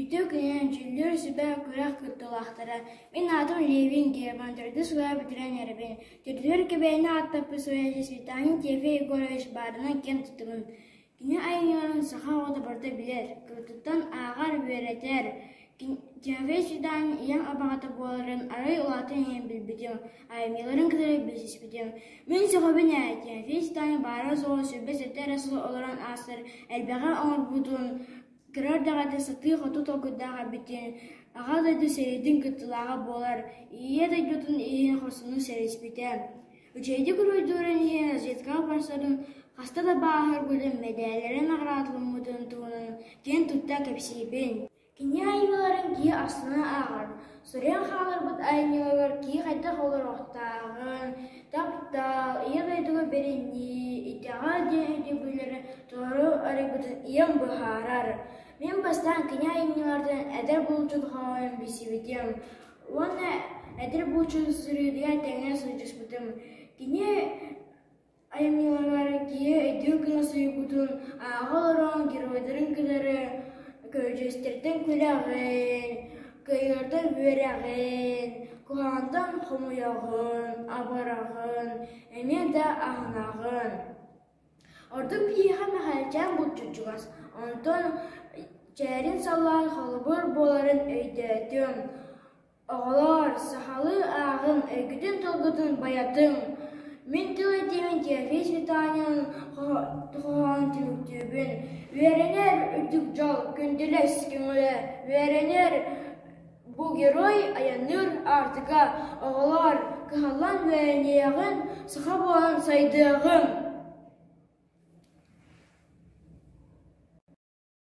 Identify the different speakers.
Speaker 1: Ити кыһын дьүүллүүр сүбэ күрэх кыттыылаахтара мин аатым Левин Герман төрдүс кыла бүтэрэн эрэбин, төрдүгэр кэбээйини ааттаппыт суруйааччы Светлана Теве Егорович баарынан киэн туттубун Кини айымньыларын саха оҕото барыта билэр, кыттыыттан ааҕар, үөрэтэр Теве Светлана ийэм абаҕата буоларын арай улаатан иһэн билбитим, айымньыларын кытары билсиспитим Мин сөҕөбүн ээ, Теве Светлана баара-суоҕа сүбэ-сата эрэ сыл олорон аастар элбэҕи оҥорбутун Кыра эрдэҕинэ сатыы-хоту толкуйдаах эбитин, Аҕа дойду сэриитин кыттыылааҕа буолар Ийэ дойдутун иһин хорсунун сэриспитэ, үчүгэйдик уруйдуурун иһин разведкаҕа барсарын, хаста да бааһырбытын, мэдээллэрэ наҕараадаламмытын туһунан киэн тутта кэпсиибин. Кини айымньыларын киһи астына ааҕар, Суруйан хааларбыт айымньыларыгар киһи хайдах олоруохтааҕын, таптал, ийэ дойдуга бэринии, итэҕэл диэн өйдөбүллэри толору арыйбытын ийэм быһаарар. Мин бастаан кини айымньыларыттан эдэр булчут хоһоон билсибитим уонна эдэр булчут суруйууга тэҥҥэ сылдьыспытым. Кини Айымньыларыгар киһи өйдүүр кыра суйгутун ааҕа олорон геройдарын кынары көрдьүөстэртэн күрэҕин, кыайыылартан үөрэҕин, куһаҕантан хомойоҕун, абыраҕын эмиэ да аһынаҕын. Ордук киһиэхэ Мэхээлчээн булчут чугас, онтон чээрин саллаан холобур буоларын өйдөөтүм. Оҕолоор, сахалыы ааҕыҥ, өйгүтүн-тылгытын байатыҥ, мин тыл этиибин Тиэрхий Светанинын хоһоон түмүктүүбүн. Үөрэнэр үрдүк дьол, күндүлэс көҥүлэ, үөрэнэр бу герой айанныыр Аартыка. Оҕолоор, кыһаллан үөрэниэҕиҥ, саха буолан сайдыаҕыҥ!